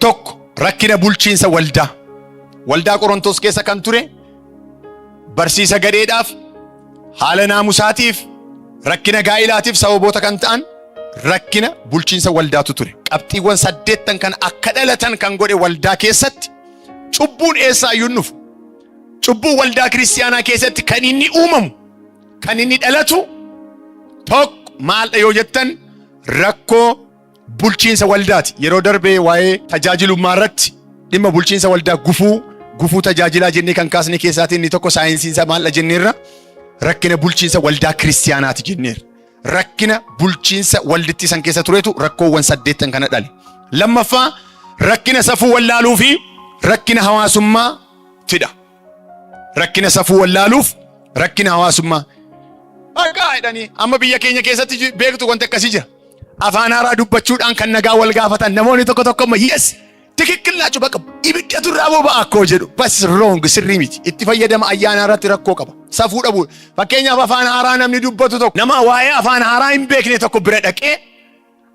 Tokko rakkina bulchiinsa waldaa. Waldaa Qorontos keessa kan ture barsiisa gadheedhaaf haala naamusaatiif rakkina gaa'ilaatiif sababoota kan ta'an rakkina bulchiinsa waldaatu ture. Qabxiiwwan saddeettan kan akka dhalatan kan godhe waldaa keessatti cubbuun eessaa iyyuu hin dhufu. Cubbuun waldaa kiristiyaanaa keessatti kan inni uumamu kan inni dhalatu tokko maaldha yoo jettan rakkoo bulchiinsa waldaati. Yeroo darbe waa'ee tajaajilummaa irratti dhimma bulchiinsa waldaa gufuu gufuu tajaajilaa jennee kan kaasne keessaatiin inni tokko saayinsiin isaa maalidha jenneerra rakkina bulchiinsa waldaa kiristiyaanaati jenneerra. Rakkina bulchiinsa waldittii san keessa turetu rakkoowwan saddeettan kana dhale. Lammaffaa rakkina safuu wallaaluu fi rakkina hawaasummaa fida. Rakkina safuu wallaaluuf rakkina hawaasummaa. Maqaa jedhanii amma biyya keenya keessatti ji- beektu wanti akkasii jira. Afaan haaraa dubbachuudhaan kan nagaa wal gaafatan namoonni tokko tokko amma yes tikikkil naachuu bakka ibidda turraa boba'a akkoo jedhu bas wrong sirrii miti itti fayyadama ayyaanaa irratti rakkoo qaba safuu dhabu fakkeenyaaf afaan haaraa namni dubbatu tokko nama waa'ee afaan haaraa hin beekne tokko bira dhaqee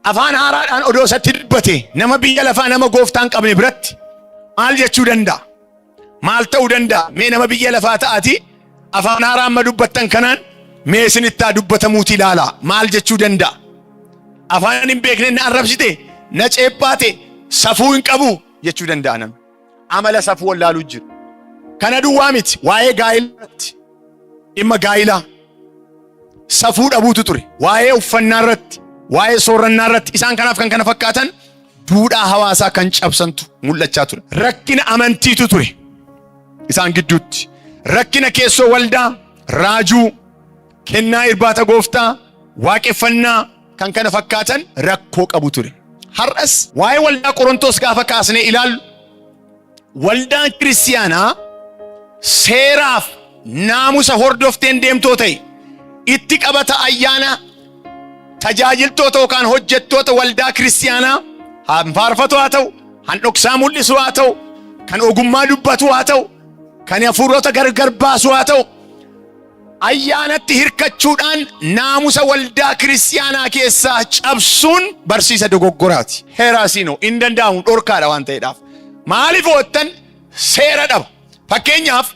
Afaan haaraadhaan odoo isatti dubbate nama biyya lafaa nama gooftaa hin qabne biratti maal jechuu danda'a? Maal ta'uu danda'a? Mee nama biyya lafaa ta'ati afaan haaraa amma dubbattan kanaan mee isinittaa dubbatamuuti ilaala. Maal jechuu danda'a? Afaan hin beekne na arrabsite, na ceephaate, safuu hin qabu jechuu danda'a namni. amala safuu wallaaluu jiru. Kana duwwaa miti waa'ee gaa'elaatti dhimma gaa'ilaa safuu dhabuutu ture. Waa'ee uffannaa irratti, waa'ee soorannaa irratti isaan kanaaf kan kana fakkaatan duudhaa hawaasaa kan cabsantu mul'achaa ture. Rakkina amantiitu ture isaan gidduutti. Rakkina keessoo waldaa, raajuu, kennaa irbaata gooftaa, waaqeffannaa, kan kana fakkaatan rakkoo qabu ture. Har'as waa'ee waldaa Qorontoos gaafa kaasnee ilaallu waldaan kiristiyaanaa seeraaf naamusa hordofteen deemtoo ta'e itti qabata ayyaana tajaajiltoota yookaan hojjettoota waldaa kiristiyaanaa han faarfatu haa ta'u, han dhoksaa mul'isu haa ta'u, kan ogummaa dubbatu haa ta'u, kan hafuurota gargar baasu haa ta'u Ayyaanatti hirkachuudhaan naamusa waldaa kiristiyaanaa keessaa cabsuun barsiisa dogoggoraati. Heeraasiinoo hin danda'amu dhorkaadha waan ta'eedhaaf. Maaliif ho'attan seera dhaba. Fakkeenyaaf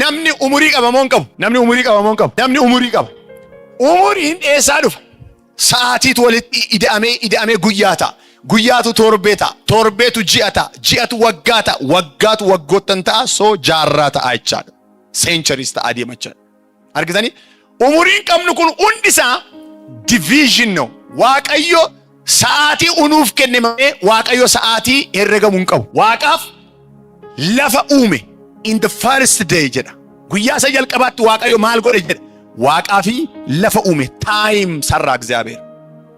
namni umurii qabamoo hin qabu. Namni umurii qabamoo hin qabu. Namni umurii qaba. Umuriin eessaa dhufa? Sa'aatiitu walitti ida'amee ida'amee guyyaa ta'a. Guyyaatu torbee ta'a. Torbeetu ji'a ta'a. Ji'atu waggaa ta'a. Waggaatu waggoottan ta'a. Soo jaarraa ta'a jechaadha. centuries ta'aa deema jechuudha. Argitanii? Umuriin qabnu kun hundi isaa division no. Waaqayyo sa'aatii unuuf kenne malee Waaqayyo sa'aatii herregamu hin qabu. Waaqaaf lafa uume in the first day jedha. Guyyaa isa jalqabaatti Waaqayyo maal godhe jedha. Waaqaa fi lafa uume time sarraa Egzaabeer.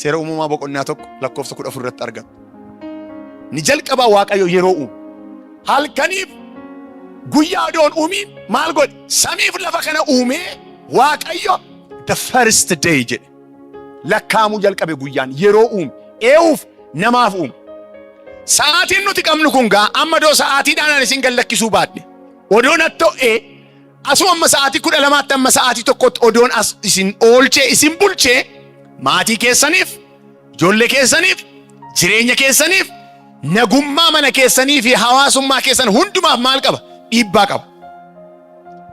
Seera Uumamaa boqonnaa 1 lakkoofsa 14 irratti argama. Ni jalqabaa Waaqayyo yeroo uume. Halkaniif guyyaa odoon uumiin maal godhe? Samiif lafa kana uumee Waaqayyo the first day jedhe. Lakkaa'amuu jalqabe guyyaan yeroo uume. Eewuuf namaaf uume. Sa'aatiin nuti qabnu kun gaa amma doo sa'aatiidhaan isin gallakkisuu baadhe. Odoo natto'ee Asoo amma sa'aatii kudha lamaatti amma sa'aatii tokkotti odoon as isin oolchee isin bulchee maatii keessaniif, ijoollee keessaniif, jireenya keessaniif, nagummaa mana keessanii fi hawaasummaa keessan hundumaaf maal qaba? Dhiibbaa qaba.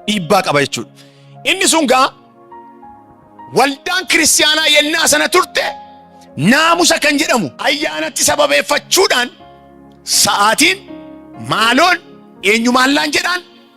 Dhiibbaa qaba jechuudha. Inni sun gaa waldaan kiristaanaa yennaa sana turte naamusa kan jedhamu ayyaanatti sababeeffachuudhaan sa'aatiin maaloon eenyumaallaan jedhaan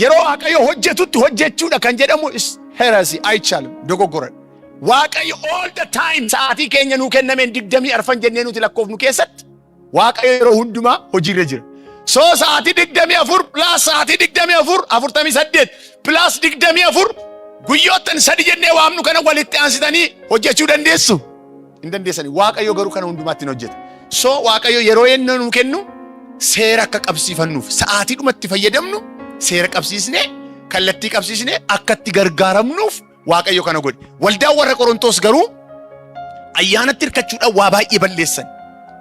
Yeroo Waaqayyo hojjetutti hojjechuudha kan jedhamu is heresy, aichal, dogoggora. Waaqayyo all the time sa'aatii keenya nuu kennameen digdamii arfan jennee nuti lakkoofnu keessatti Waaqayyo yeroo hundumaa hojiirra jira. So sa'aatii digdamii afur plus sa'aatii digdamii afur afurtamii saddeet plus digdamii afur guyyoottan sadi jennee waamnu kana walitti aansitanii hojjechuu dandeessu. hin dandeessani. Waaqayyo garuu kana hundumaatti hin hojjeta. So Waaqayyo yeroo yennoo nuu kennu seera akka qabsiifannuuf sa'aatii dhumatti fayyadamnu seera qabsiisnee kallattii qabsiisnee akka itti gargaaramnuuf Waaqayyo kana godhe. Waldaan warra Qorontoos garuu ayyaanatti hirkachuudhaan waa baay'ee balleessan.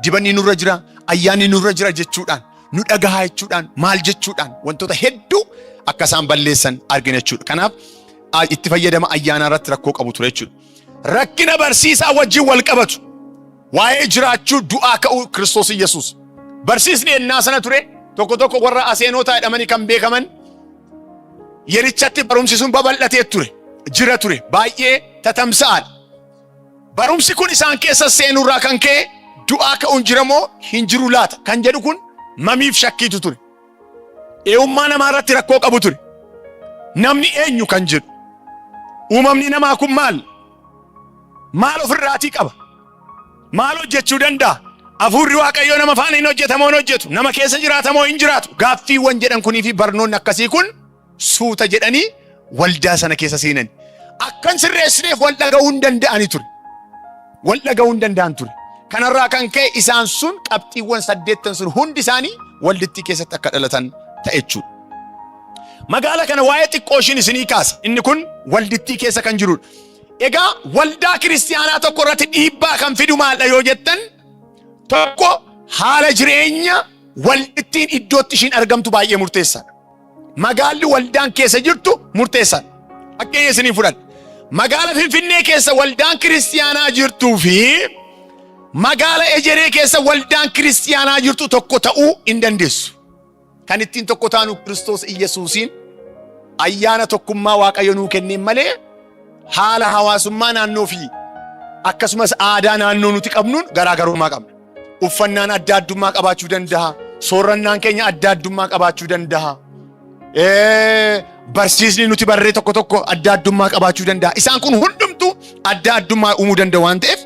Dibanni nurra jira, ayyaanni nurra jira jechuudhaan, nu dhagahaa jechuudhaan, maal jechuudhaan wantoota hedduu akka isaan balleessan argina jechuudha. Kanaaf a- itti fayyadama ayyaanaa irratti rakkoo qabu ture jechuudha. Rakkina barsiisaa wajjin wal qabatu. Waa'ee jiraachuu du'aa ka'uu Kiristoos Yesuus. Barsiisni ennaa sana ture tokko tokko warra aseenootaa jedhamanii kan beekaman yerichatti barumsi sun babal'atee ture. Jira ture. Baay'ee tatamsa'aadha. Barumsi kun isaan keessa seenurraa kan ka'e du'aa ka'uun jira moo hin jiru laata kan jedhu kun mamiif shakkiitu ture. Eeummaa namaa irratti rakkoo qabu ture. Namni eenyu kan jedhu. Uumamni namaa kun maal? Maal ofirraatii qaba? Maal hojjechuu danda'a? Afuurri Waaqayyoo nama faana hin hojjetamoo hin hojjetu? Nama keessa jiraatamoo hin jiraatu? Gaaffiiwwan jedhan kunii fi barnoonni akkasii kun suuta jedhanii waldaa sana keessa seenan. Akkan sirreessineef wal dhaga'uu hin danda'ani ture. Wal dhaga'uu hin danda'an ture. Kanarraa kan ka'e isaan sun qabxiiwwan saddeettan sun hundi isaanii waldittii keessatti akka dhalatan ta'e jechuudha. Magaala kana waa'ee xiqqoo ishiin isinii kaasa. Inni kun waldittii keessa kan jirudha. Egaa waldaa kiristiyaanaa tokko irratti dhiibbaa kan fidu maaldha yoo jettan tokko haala jireenya waldittiin iddootti ishiin argamtu baay'ee murteessaadha. Magaalli waldaan keessa jirtu murteessaa dha. Fakkeenya isiniin fudhadha. Magaala Finfinnee keessa waldaan kiristiyaanaa jirtuu fi magaala Ejeree keessa waldaan kiristiyaanaa jirtu tokko ta'uu hin dandeessu. Kan ittiin tokko taanu Kiristoos Iyyasuusiin ayyaana tokkummaa Waaqayyo nuu kenneen malee haala hawaasummaa naannoo fi akkasumas aadaa naannoo nuti qabnuun garaagarummaa qabna. Uffannaan adda addummaa qabaachuu danda'a. Soorrannaan keenya adda addummaa qabaachuu danda'a. Ee, Barsiisni nuti barree tokko tokko adda addummaa qabaachuu danda'a. Isaan kun hundumtuu adda addummaa uumuu danda'u waan ta'eef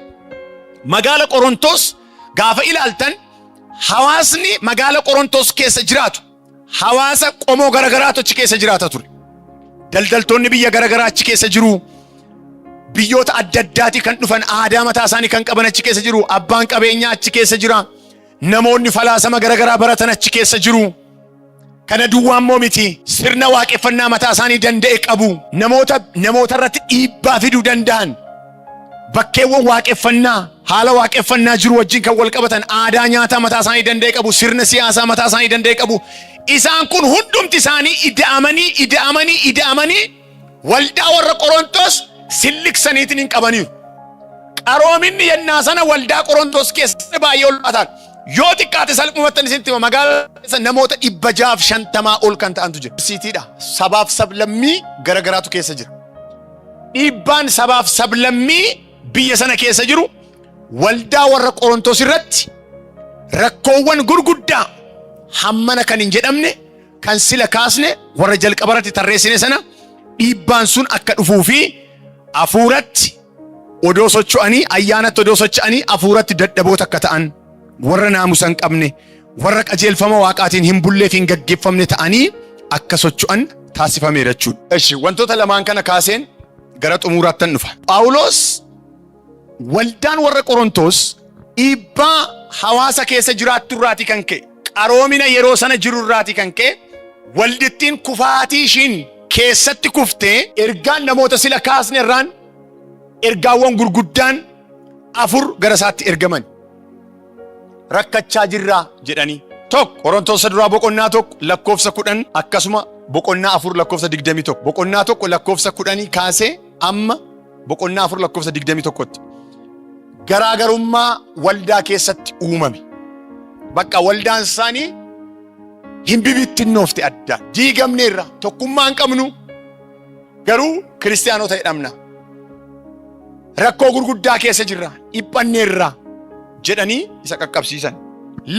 magaala Qorontos gaafa ilaaltan hawaasni magaala Qorontos keessa jiraatu Hawaasa qomoo garagaraatu achi keessa jiraata ture. Daldaltoonni biyya garagaraa achi keessa jiru. Biyyoota adda addaatii kan dhufan aadaa mataa isaanii kan qaban achi keessa jiru. Abbaan qabeenyaa achi keessa jira. Namoonni falaasama garagaraa baratan achi keessa jiru. Kana duwwaa immoo miti. Sirna waaqeffannaa mataa isaanii danda'e qabu. Namoota namoota irratti dhiibbaa fiduu danda'an Bakkeewwan waaqeffannaa haala waaqeffannaa jiru wajjin kan wal qabatan aadaa nyaataa mataa isaanii danda'e qabu, sirna siyaasaa mataa isaanii danda'e qabu. Isaan kun hundumti isaanii ida'amanii ida'amanii ida'amanii waldaa warra Qorontos silliksaniitiin hin qabaniiru. Qaroominni yennaa sana waldaa Qorontos keessatti baay'ee ulfaataan yoo xiqqaate salphumattan isinitti hima magaalaa keessa namoota dhibba jaaf shantamaa ol kan ta'antu jira. Siitiidha sabaaf sablammii garagaraatu keessa jira. Dhiibbaan sabaaf sablammii biyya sana keessa jiru waldaa warra Qorontos irratti rakkoowwan gurguddaa hammana kan hin jedhamne kan sila kaasne warra jalqaba irratti tarreessine sana dhiibbaan sun akka dhufuu fi hafuuratti odoo socho'anii ayyaanatti odoo socho'anii hafuuratti dadhaboota akka ta'an warra naamusa hin qabne warra qajeelfama Waaqaatiin hin bullee fi hin gaggeeffamne ta'anii akka socho'an taasifameera jechuudha. Eshi wantoota lamaan kana kaaseen gara xumuraattan dhufa. Phaawulos waldaan warra Qorontoos dhiibbaa hawaasa keessa jiraattu irraati kan ka'e qaroomina yeroo sana jiru irraati kan ka'e waldittiin kufaatii ishiin keessatti kuftee ergaan namoota sila kaasne irraan ergaawwan gurguddaan afur gara isaatti ergaman. rakkachaa jirraa jedhanii. Tokko Qorontosa duraa boqonnaa tokko lakkoofsa kudhan akkasuma boqonnaa afur lakkoofsa digdamii tokko boqonnaa tokko lakkoofsa kudhanii kaasee amma boqonnaa afur lakkoofsa digdamii tokkotti garaagarummaa waldaa keessatti uumame. Bakka waldaan isaanii hin bibittinnoofte adda diigamneerra tokkummaa hin qabnu Garuu kiristiyaanota jedhamna. Rakkoo gurguddaa keessa jirra, dhiphanneerra jedhanii isa qaqqabsiisan.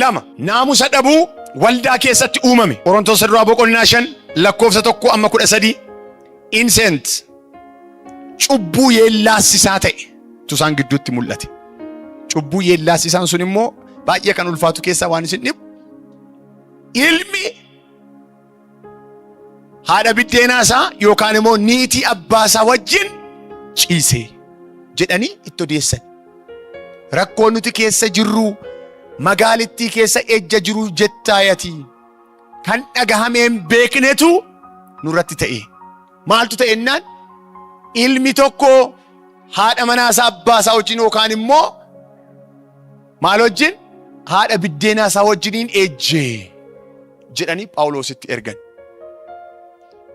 Lama, naamusa dhabuu waldaa keessatti uumame. Qorontosa duraa boqonnaa shan lakkoofsa tokko amma kudha sadii insent cubbuu yeellaassisaa ta'e tusaan gidduutti mul'ate. Cubbuu yeellaassisaan sun immoo baay'ee kan ulfaatu keessaa waan isin dhibu ilmi haadha biddeenaa isaa yookaan immoo niitii abbaa isaa wajjin ciise jedhanii itti odeessan. Rakkoo nuti keessa jirru magaalittii keessa ejja jiru jettaayati kan dhagahamee hin beeknetu nurratti ta'e. Maaltu ta'e innaan ilmi tokko haadha manaa isaa abbaa isaa wajjin yookaan immoo maal wajjin haadha biddeenaa isaa wajjiniin ejjee. jedhanii Phaawuloositti ergan.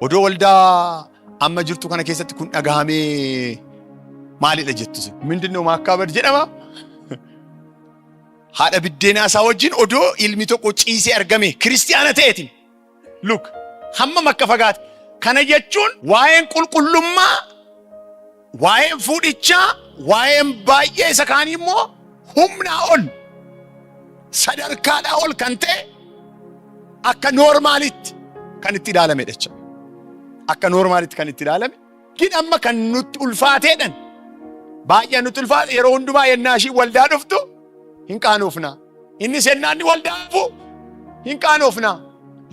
Odoo waldaa amma jirtu kana keessatti kun dhagahamee maalidha jettu isin? Mindinno maakkaabad jedhama. Haadha biddeenaa isaa wajjin odoo ilmi tokko ciisee argame kiristiyaana ta'eetiin. Luk hammam akka fagaate. Kana jechuun waa'een qulqullummaa Waa'een fuudhichaa waa'een baay'ee isa kaanii immoo humnaa ol sadarkaadhaa ol kan ta'e akka noormaalitti kan itti ilaalamedha jechuudha. Akka noormaalitti kan itti ilaalame gin amma kan nutti ulfaateedhan baay'ee nutti ulfaate yeroo hundumaa yennaa ishii waldaa dhuftu hin qaanoofna. Innis yennaa inni waldaa dhufu hin qaanoofna.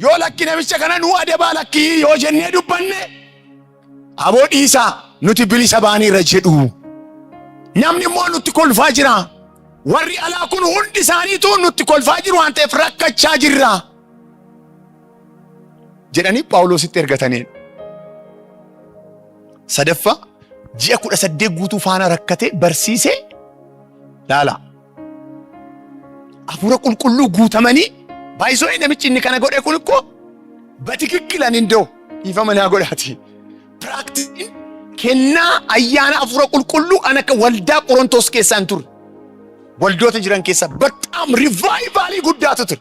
Yoo lakki namicha kana nuu adabaa lakkii yoo jennee dubbanne Aboo dhiisaa nuti bilisa baaneerra jedhu. Namni immoo nutti kolfaa jira. Warri alaa kun hundi isaaniitu nutti kolfaa jiru waan ta'eef rakkachaa jirra. Jedhanii Phaawulositti ergataniidha. Sadaffaa ji'a kudha saddeet guutuu faana rakkatee barsiisee laala. Hafuura qulqulluu guutamanii baay'isoo namichi inni kana godhe kun koo batikikkilan indoo dhiifama naa godhaati. Piraaktiin kennaa ayyaana hafuura qulqulluu an akka waldaa Qorontoos keessaa hin turre. Waldoota jiran keessaa bataam rivaayivaalii guddaatu ture.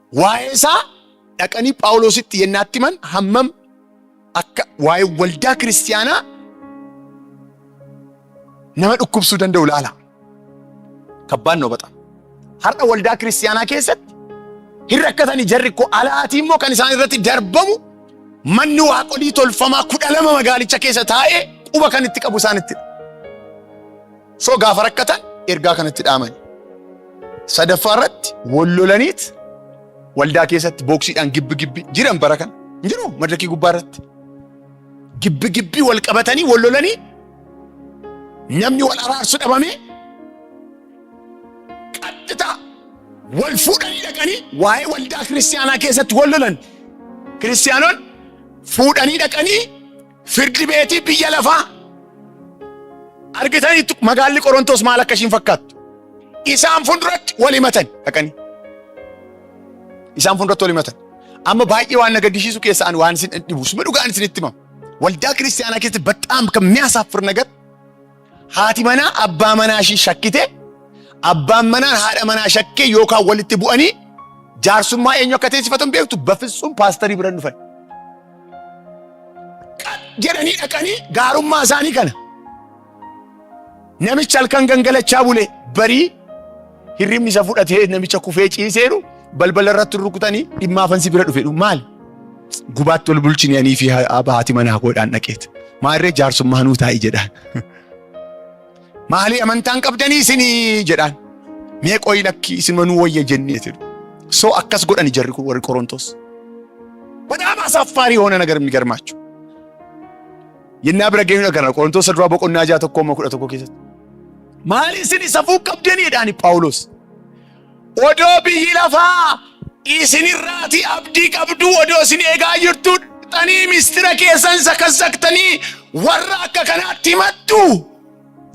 Waa'ee isaa dhaqanii Phaawulositti yennaatti himan hammam akka waa'ee waldaa kiristiyaanaa nama dhukkubsuu danda'u ilaala. Kabbaan noo baxa. Har'a waldaa kiristiyaanaa keessatti hin rakkatani jarri koo alaatii immoo kan isaan irratti darbamu manni waaqolii tolfamaa kudha lama magaalicha keessa taa'ee quba kan itti qabu isaanitti. So gaafa rakkatan ergaa kanatti dhaamani. Sadaffaa irratti wal lolaniit waldaa keessatti booksiidhaan gibbi gibbi jiran bara kana. Hin jiru madrakii gubbaa irratti. Gibbi gibbi wal qabatanii wal lolanii namni wal araarsu dhabamee qaxxitaa wal fuudhanii dhaqanii waa'ee waldaa kiristiyaanaa keessatti wal lolan. Kiristiyaanoon fuudhanii dhaqanii Firdi beetii biyya lafaa argitaniittu magaalli Qorontoos maal akka ishiin fakkaattu. Isaan fuulduratti wal himatan dhaqanii. Isaan fuulduratti wal himatan. Amma baay'ee waan na gaddisiisu keessa ani waan isin dhibu suma dhugaan isinitti himama. Waldaa kiristaanaa keessatti bataam kan mi'aasaaf firnagat Haati manaa abbaa manaa ishii shakkite, abbaan manaan haadha manaa shakkee yookaan walitti bu'anii jaarsummaa eenyu akka teessifatan beektu bafitsuun paastarii biran dhufan. Jedhanii dhaqanii gaarummaa isaanii kana. Namichi halkan gangalachaa bule barii Hirribni isa fudhatee namicha kufee ciiseeru balbala irratti rukutanii dhimma afan si bira dhufedhu maal? Gubaatti ol bulchini anii fi haati manaa koodhaan dhaqeet. Maarree jaarsummaa nuu taa'i jedhaan. Maalii amantaan qabdanii isinii jedhaan. Mee qoyi lakki isinuma nuu wayya jennee jedhu. So akkas godhani jarri kun warri Qorontos. Badaama asaaffaari hoona nagar migarmaachu. Yennaa bira geenyu dhagarra Qorontos duraa boqonnaa ja'a tokkoo kudha tokko keessatti. Maali isin safuu qabdanii jedhaani Phaawulos. Odoo biyyi lafaa isinirraati abdii qabduu odoo isin eegaa jirtuu dhaqxanii mistira keessan sakassaktanii warra akka kanaatti himattu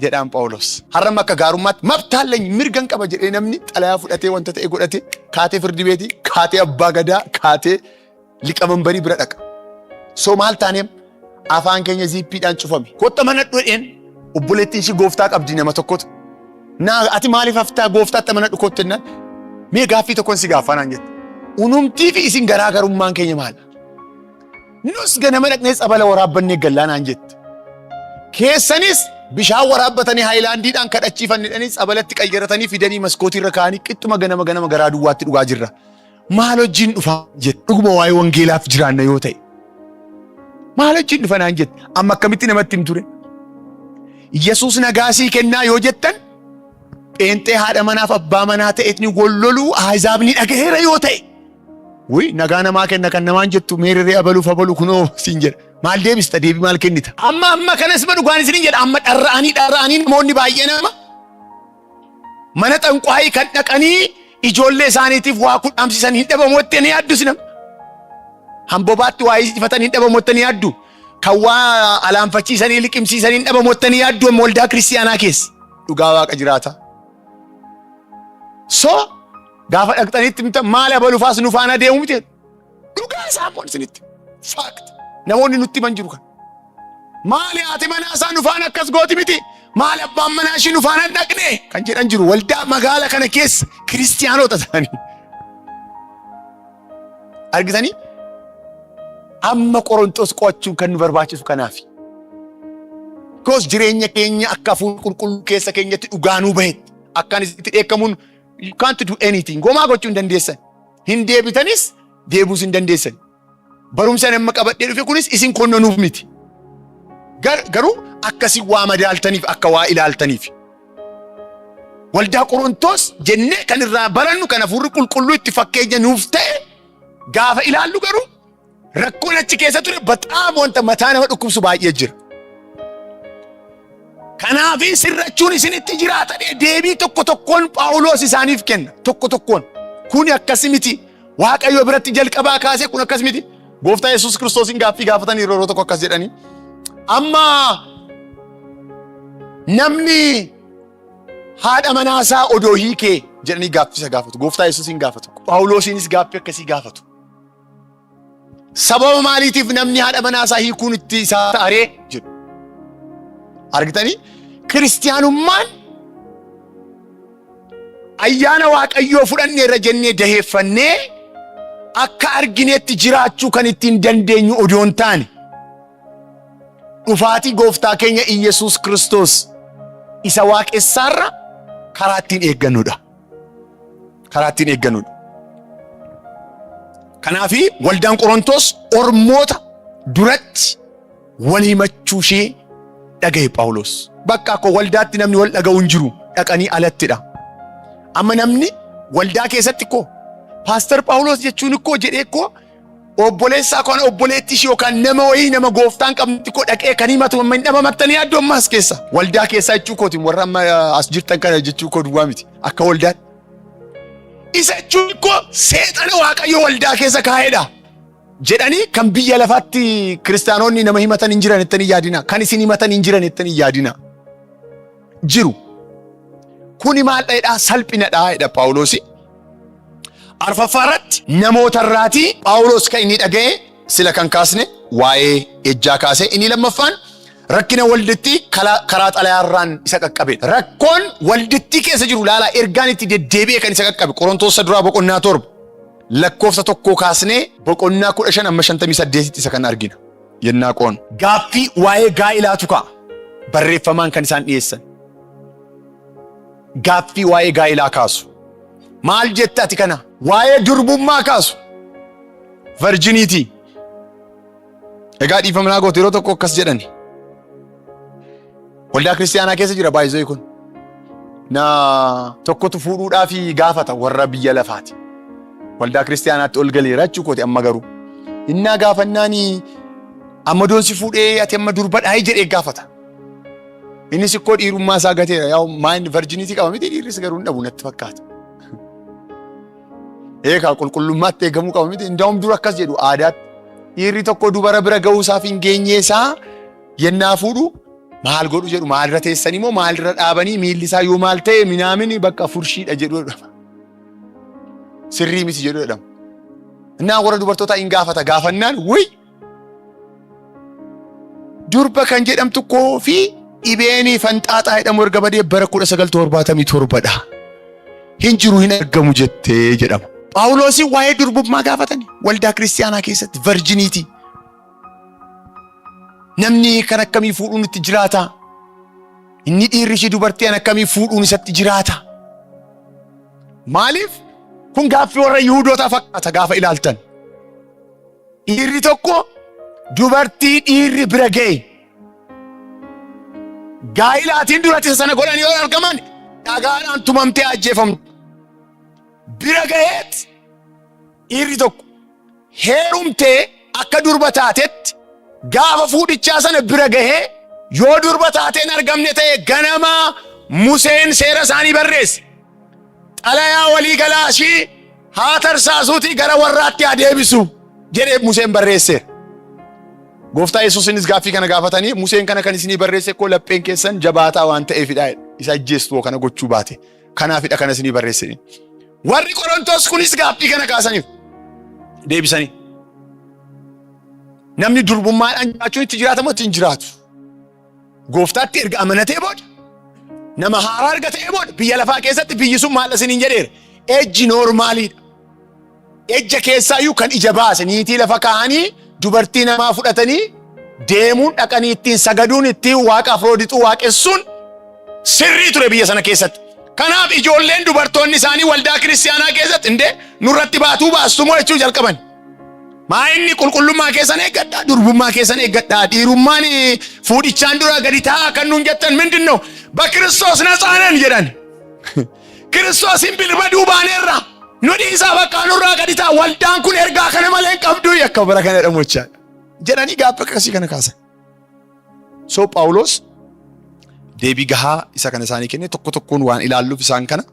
jedhaan Phaawulos. Har'amma akka gaarummaatti mabtaalleen mirgan qaba jedhee namni xalayaa fudhatee wanta ta'e godhate kaatee firdi beetii kaatee abbaa gadaa kaatee liqamanbarii bira dhaqa. So maal taaneem afaan keenya ziippiidhaan cufame. Kotta mana dhudheen obboleettiin ishii gooftaa qabdi nama tokkotu. Naa ati maaliif haftaa gooftaatti mana dhukootti jennaan mee gaaffii tokkon si gaaffaa naan jette. Unumtii fi isin garaagarummaan keenya maal? Nus ganama dhaqnee tsabala waraabbannee gallaa naan jette. Keessanis bishaan waraabbatanii haayilaandiidhaan kadhachiifannidhanii tsabalatti qayyaratanii fidanii maskootii irra kaa'anii qixxuma ganama ganama garaa duwwaatti dhugaa jirra. maal wajjin dhufa jette dhuguma waa'ee wangeelaaf jiraanna yoo ta'e maal wajjin dhufa naan jette amma akkamitti namatti hin ture yesus nagaa sii kennaa yoo jettan pheenxee haadha manaaf abbaa manaa ta'etni walloluu ahzaabni dhagaheera yoo ta'e Wui nagaa namaa kenna kan namaan jettu meeriree abaluuf abalu kunoo siin jedha. Maal deebista deebii maal kennita? Amma amma kanas ma dhugaan isin jedha amma dharra'anii dharra'anii namoonni baay'ee nama Mana xanquhaayii kan dhaqanii ijoollee isaaniitiif waa kudhaamsisan hin dhabamu jettee ni yaaddu sinam. Hambobaatti waa hiisifatan hin dhabamu jettee ni yaaddu. Kan waa alaanfachiisanii liqimsiisan hin dhabamu jettee ni yaaddu amma waldaa kiristiyaanaa keessa. Dhugaa waaqa jiraata. So gaafa dhaqxanitti maal abalufaas nu faana deemu miti. Dhugaa isaa kun isinitti. Faakti. Namoonni nutti himan jiru kan. Maali haati manaa isaa nufaan akkas gooti miti. Maali abbaan manaa ishii nufaan hin dhaqne kan jedhan jiru. Waldaa magaala kana keessa kiristiyaanota ta'anii. Argitanii? Amma Qorontos qo'achuun kan nu barbaachisu kanaafi. Koos jireenya keenya akka hafuura qulqulluu keessa keenyatti dhugaa nuu bahetti. Akkaan itti dheekkamuun you can't do anything. Gomaa gochuu hin dandeessan. Hin deebitanis deebuus hin dandeessan. Barumsa nama qabadhee dhufe kunis isin konnonuuf miti. Garuu akkasi waa madaaltaniif akka waa ilaaltaniif. Waldaa Qorontoos jennee kan irraa barannu kan hafuurri qulqulluu itti fakkeenya nuuf ta'e gaafa ilaallu garuu Rakkoon achi keessa ture baxaam wanta mataa nama dhukkubsu baay'ee jira. Kanaaf sirrachuun isinitti jiraata jedhee deebii tokko tokkoon Phaawulos isaaniif kenna. Tokko tokkoon. Kuni akkas miti. Waaqayyo biratti jalqabaa kaasee kun akkas miti. Gooftaa Yesuus Kiristoosiin gaaffii gaafatanii yeroo tokko akkas jedhanii. Amma namni haadha manaa isaa odoo hiikee jedhanii gaaffisa gaafatu. Gooftaa Yesuusiin gaafatu. Phaawulosiinis gaaffii akkasii gaafatu. Sababa maaliitiif namni haadha manaa isaa hiikuun itti isaa ta'aree jedhu. Argitanii kiristiyaanummaan ayyaana waaqayyoo fudhannee irra jennee daheeffannee akka argineetti jiraachuu kan ittiin dandeenyu odoo hin taane dhufaatii gooftaa keenya Iyyasuus Kiristoos isa waaqessaarra karaa ittiin eeggannudha. karaa ittiin eegganudha. Kanaaf waldaan Qorontoos ormoota duratti wal himachuu ishee dhagahe Phaawulos. Bakka akka waldaatti namni wal dhaga'u hin jiru dhaqanii alattidha. Amma namni waldaa keessatti koo paastar Phaawulos jechuun koo jedhee koo Obboleessaa koo obboleettii ishii yookaan nama wayii nama gooftaan qabnetti koo dhaqee kan himatu amma hin dhabamattanii yaaddu amma as keessa. Waldaa keessaa jechuu kooti warra amma eh, as jirtan kana jechuu koo duwwaa miti akka waldaatti. Isa jechuun koo seexana waaqayyo waldaa keessa kaa'edha. jedhanii kan biyya lafaatti kiristaanonni nama himatan hin jiran jettanii yaadina kan isin himatan hin jiran jettanii yaadina jiru. Kuni maal dha'edhaa? Salphinadhaa jedha Phaawuloosi. Arfaffaa irratti namoota irraatii Phaawuloos kan inni dhaga'e sila kan kaasne waa'ee ejjaa kaase. Inni lammaffaan rakkina waldittii kala- karaa xalayaa irraan isa qaqqabedha. Rakkoon waldittii keessa jiru laalaa ergaan itti deddeebi'e kan isa qaqqabe Qorontoos isa duraa boqonnaa torba lakkoofsa tokkoo kaasnee boqonnaa kudha shan amma shantamii saddeetitti isa kan argina. yennaa qo'an. Gaaffii waa'ee gaa'elaatu ka'a. Barreeffamaan kan isaan dhiyeessan. Gaaffii waa'ee gaa'elaa kaasu. Maal jetta ati kana? Waa'ee durbummaa kaasu. Varjiniitii. Egaa dhiifama naa goote yeroo tokko akkas jedhani. Waldaa kiristaanaa keessa jira baay'isee kun. Na tokkotu fuudhuudhaaf gaafata warra biyya lafaati. Waldaa kiristaanaatti ol galeera jechuu kooti amma garuu. Innaa gaafannaan amma doonsi fuudhee ati amma durbadhaa jedhee gaafata. Innis ikkoo dhiirummaa isaa gateera yaa maayin virjiniitii qaba miti dhiirris garuu hin dhabu natti fakkaata. Eegaa qulqullummaatti eegamuu qaba miti. Indaa'um dura akkas jedhu aadaatti. Dhiirri tokko dubara bira ga'uu isaaf hin geenye isaa Yennaa fuudhu maal godhu jedhu maalirra teessanii moo maalirra dhaabanii miilli isaa yoo maal ta'e minaamini bakka furshiidha jedhu jedhama. Sirrii miti jedhu jedhama. Innaa warra dubartootaa in gaafata gaafannaan wuy durba kan jedhamtu koo fi dhibeenii fanxaaxaa jedhamu erga badee bara 1977 dha. Hin jiru hin argamu jettee jedhama. Phaawuloosiin waa'ee durbummaa gaafatani waldaa kiristaanaa keessatti varjiniitii. Namni kan akkamii fuudhuun itti jiraata? Inni dhiirri ishii dubartii an akkamii fuudhuun isatti jiraata? Maaliif? Kun gaaffii warra Yihudootaa fakkaata gaafa ilaaltan. Dhiirri tokko dubartii dhiirri bira ga'e. Gaa'ilaatiin duratti isa sana godhan yoo argaman dhagaadhaan tumamtee ajjeefamtu. Bira ga'eet Dhiirri tokko heerumtee akka durba taatetti gaafa fuudhichaa sana bira gahee yoo durba taateen argamne ta'e ganamaa Museen seera isaanii barreesse. Xalayaa walii galaa ishii haa tarsaasuutii gara warraatti haa deebisu jedhee Museen barreesseera. Gooftaa Yesuusinis gaaffii kana gaafatanii Museen kana kan isinii barreesse koo lapheen keessan jabaataa waan ta'eefidha isa ajjeestu kana gochuu baate Kanaafidha kana isinii barreesse. Warri Qorontoos kunis gaaffii kana kaasaniif deebisanii. Namni durbummaadhaan jiraachuun itti jiraatamu itti hin jiraatu. Gooftaatti erga amanatee booda nama haaraa erga ta'ee booda biyya lafaa keessatti biyyi sun maal isiniin jedheera. Ejji noormaaliidha. Ejja keessaayyuu kan ija baase niitii lafa kaa'anii dubartii namaa fudhatanii deemuun dhaqanii ittiin sagaduun ittiin waaqa afroodixuu waaqessuun sirrii ture biyya sana keessatti. Kanaaf ijoolleen dubartoonni isaanii waldaa kiristiyaanaa keessatti indee nurratti baatuu baastumoo jechuu jalqaban. Maa inni qulqullummaa keessan eeggadhaa, durbummaa keessan eeggadhaa, dhiirummaan eh, fuudhichaan dura gadi taa'aa kan nuun jettan mindin noo? Bakiristoos natsaanan jedhan. Kiristoosiin bilbaduu baaneerra nu dhiisaa bakka nurraa gadi ta'a waldaan kun ergaa kana malee hin qabdu akka bara kana jedhamu jechaa jedhanii gaaffii akkasii kana kaasan. So Phaawulos deebii gahaa isa kana isaanii kenne tokko tokkoon waan ilaalluuf isaan kana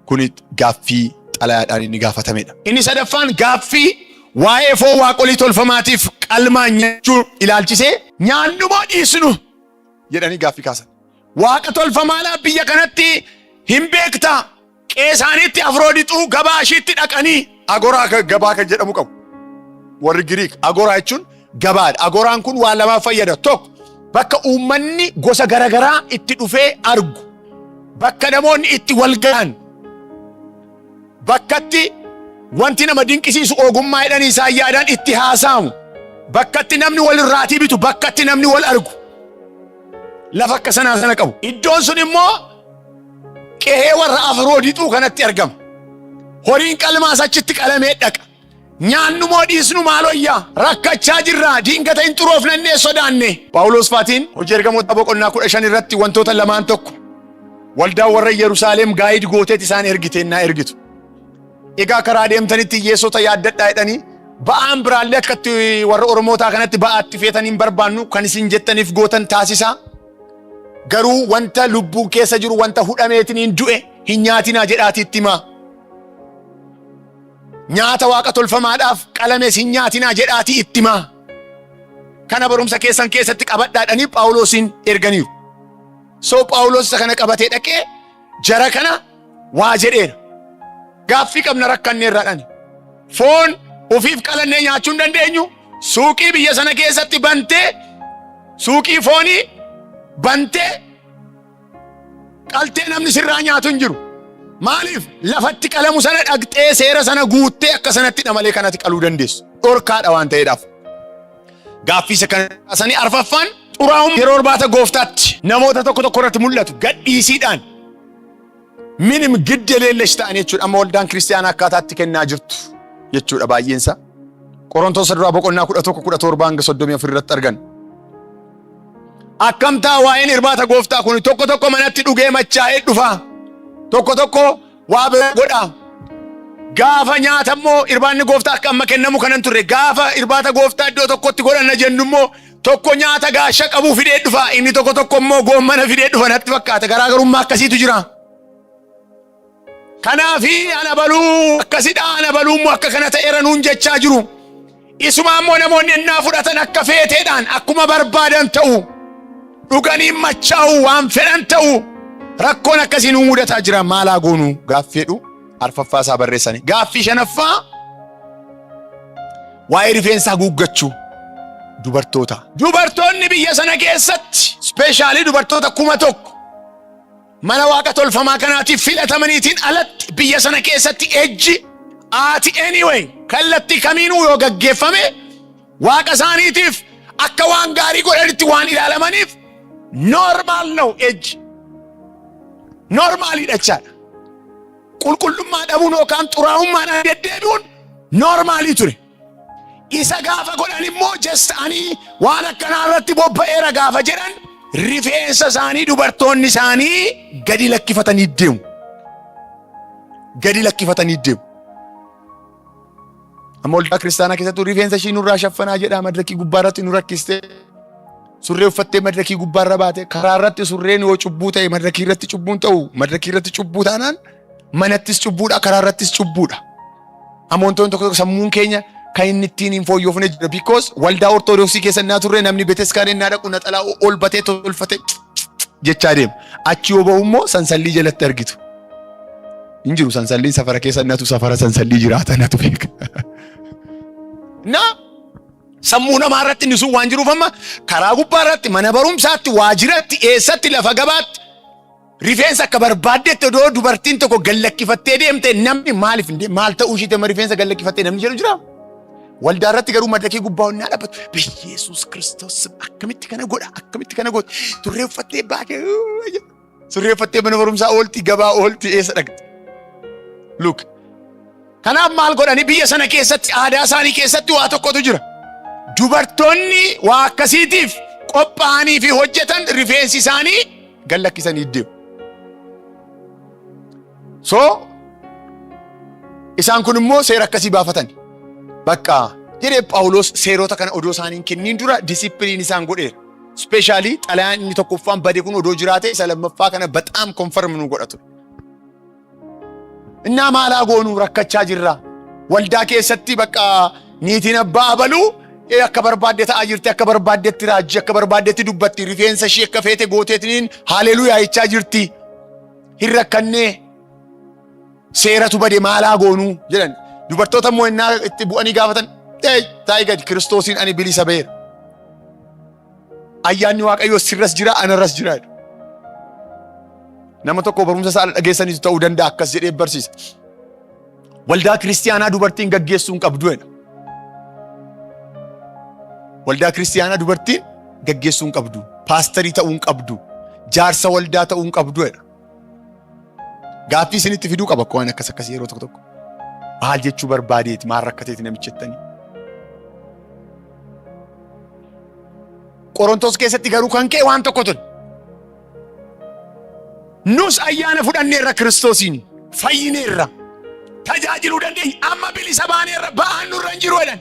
kun gaaffii xalayaadhaan inni gaafatamedha. Inni sadaffaan gaaffii waa'ee foon waaqolii tolfamaatiif qalmaa nyaachuu ilaalchisee nyaannu moo dhiisnu jedhanii gaaffii kaasan. Waaqa tolfamaadhaa biyya kanatti hin beektaa? Qe'ee isaaniitti Afroodixuu gabaa ishiitti dhaqanii agoraa ka- gabaa kan jedhamu qabu. Warri Giriik agoraa jechuun gabaadha. Agoraan kun waan lamaaf fayyada. Tokko bakka uummanni gosa garaagaraa itti dhufee argu. Bakka namoonni itti wal ga'an. Bakkatti wanti nama dinqisiisu ogummaa jedhanii isaan yaadaan itti haasa'amu. Bakkatti namni wal irraatii bitu. Bakkatti namni wal argu. lafa akka sanaa sana qabu. Iddoon sun immoo qe'ee warra Afroodixuu kanatti argama. Horiin qalmaas achitti qalamee dhaqa. Nyaannumoo dhiisnu maalooyyaa rakkachaa jirra diingata hin xuroofnannee sodaanne. Phaawulos Faatiin hojii ergamoota boqonnaa kudha shan irratti wantoota lamaan tokko waldaan warra Yerusaalem gaayid gooteet isaan ergiteennaa ergitu. Egaa karaa deemtanitti hiyyeessota yaaddadhaa jedhanii ba'aan biraallee akka itti warra Oromootaa kanatti ba'aa itti feetan hin barbaannu kan isin jettaniif gootan taasisaa. Garuu wanta lubbuun keessa jiru wanta hudhameetiin hin du'e hin nyaatinaa jedhaatii itti himaa. Nyaata waaqa tolfamaadhaaf qalames hin nyaatinaa jedhaatii itti himaa. Kana barumsa keessan keessatti qabadhaadhanii Phaawulosiin erganiiru. So Phaawulos isa kana qabatee dhaqee Jara kana waa jedheera. Gaaffii qabna rakkanne irraa dhani. Foon ufiif qalannee nyaachuu hin dandeenyu. Suuqii biyya sana keessatti bantee suuqii foonii bantee qaltee namni sirraa nyaatu hin jiru. Maaliif lafatti qalamu sana dhaqxee seera sana guuttee akka sanattidha malee kanatti qaluu dandeessu. Dhorkaadha waan ta'eedhaaf. Gaaffii isa kana kaasanii arfaffaan xuraa'ummaa yeroo irbaata gooftaatti namoota tokko tokko irratti mul'atu gadhiisiidhaan minim gidde leellesh ta'an jechuudha. Amma waldaan kiristaanaa akkaataatti kennaa jirtu jechuudha baay'eensa. Qorontoos duraa boqonnaa kudha tokko kudha torba hanga soddomii afur irratti argan. Akkamtaa waa'een irbaata gooftaa kun tokko tokko manatti dhugee machaa'ee dhufa. Tokko tokko Waa bira godha. Gaafa nyaata immoo irbaanni gooftaa akka amma kennamu kanan turre gaafa irbaata gooftaa iddoo tokkotti godhanna jennu immoo tokko nyaata gaasha qabu fidee dhufa inni tokko tokko immoo goommana fidee dhufa natti fakkaata garaagarummaa akkasiitu jira. Kanaafi ana baluu akkasidha ana baluu immoo akka kana ta'eera nuun jechaa jiru. Isuma ammoo namoonni ennaa fudhatan akka feeteedhaan akkuma barbaadan ta'u dhuganiin machaa'u waan fedhan ta'u rakkoon akkasii nu mudataa jira maalaa goonu gaaffiidhu arfaffaa isaa barreessani. Gaaffii shanaffaa waa'ee rifeensa haguuggachuu dubartoota. Dubartoonni biyya sana keessatti ispeeshaalii dubartoota kuma tokko Mana waaqa tolfamaa kanaatiif filatamaniitiin alatti biyya sana keessatti ejji aati anyway kallattii kamiinuu yoo gaggeeffame waaqa isaaniitiif akka waan gaarii godhanitti waan ilaalamaniif normaal ነው ejji normaaliidha jechaadha. Qulqullummaa dhabuun yookaan xuraa'ummaan deddeebi'uun normaalii ture. Isa gaafa godhan immoo jessa ani waan akkanaa irratti bobba'eera gaafa jedhan rifeensa isaanii dubartoonni isaanii gadi lakkifatanii deemu. Gadi lakkifatanii deemu. Amma waldaa kiristaanaa keessattuu rifeensa ishii nurraa shaffanaa jedhaa madirakii gubbaa irratti nu rakkistee surree uffattee madirakii gubbaa irra baate karaa irratti surreen yoo cubbuu ta'e madirakii irratti cubbuun ta'u madirakii irratti cubbuu taanaan manattis cubbuudha karaa irrattis cubbuudha. Amantoonni tokko tokko sammuun keenya kan inni ittiin hin fooyyofne jira. Because waldaa ortodoksii keessa innaa turre namni beteskaanii innaa dhaqu naxalaa ol batee tolfatee jechaa deema. Achi yoo bahu immoo sansallii jalatti argitu. Hin jiru sansalliin safara keessa innatu safara sansallii jiraata natu beeka. Na sammuu namaa irratti inni sun waan jiruuf amma karaa gubbaa irratti mana barumsaatti waajiratti eessatti lafa gabaatti Rifeensa akka barbaaddetti odoo dubartiin tokko gallakkifattee deemte namni maaliif hin deemu? Maal ta'uu ishiitti amma rifeensa gallakkifattee namni jedhu jira? Waldaa irratti garuu madrakii gubbaa onnaa dhaabbatu. Biyyeesuus Kiristoos akkamitti kana godha? Akkamitti kana godha? Turree uffattee baatee surree uffattee mana barumsaa oolti gabaa oolti eessa dhaqxi? Luuk. Kanaaf maal godhani biyya sana keessatti aadaa isaanii keessatti waa tokkotu jira. Dubartoonni waa akkasiitiif qophaa'anii fi hojjetan rifeensi isaanii gad lakkisanii deemu. So isaan kun immoo seera akkasii baafatan. Bakka jedhee Phaawulos seerota kana odoo isaaniin kenniin dura disipiliin isaan godheera. Ispeeshaalii xalayaan inni tokkoffaan bade kun odoo jiraate isa lammaffaa kana baxaam konfarm nu godha ture. Innaa maalaa goonuu rakkachaa jirra. Waldaa keessatti bakka niitiin abbaa abaluu ee akka barbaadde ta'aa jirti, akka barbaaddetti raajji, akka barbaaddetti dubbatti, rifeensa ishii akka feete gooteetiniin haaleluyaa jechaa jirti. Hin rakkannee seeratu bade maalaa goonuu jedhan. Dubartoota immoo innaa itti bu'anii gaafatan ee taa'ii gadi kiristoosiin ani bilisa ba'eera. Ayyaanni Waaqayyoo sirras jira, anarras jira. jedha. Nama tokko barumsa isaa dhageessaniitu ta'uu danda'a akkas jedhee barsiisa. Waldaa kiristiyaanaa dubartiin gaggeessuu hin qabdu jedha. Waldaa kiristiyaanaa dubartiin gaggeessuu hin qabdu. Paastarii ta'uu hin qabdu. Jaarsa waldaa ta'uu hin qabdu jedha. Gaaffii isinitti fiduu qaba waan akkas akkasii yeroo tokko tokko. Maal jechuu barbaadeeti maal rakkateeti namichi jettanii. Qorontos keessatti garuu kan ka'e waan tokko ture. Nus ayyaana fudhanneerra Kiristoosiin fayyineerra tajaajiluu dandeenya amma bilisa baaneerra ba'aan nurra hin jiru jedhan.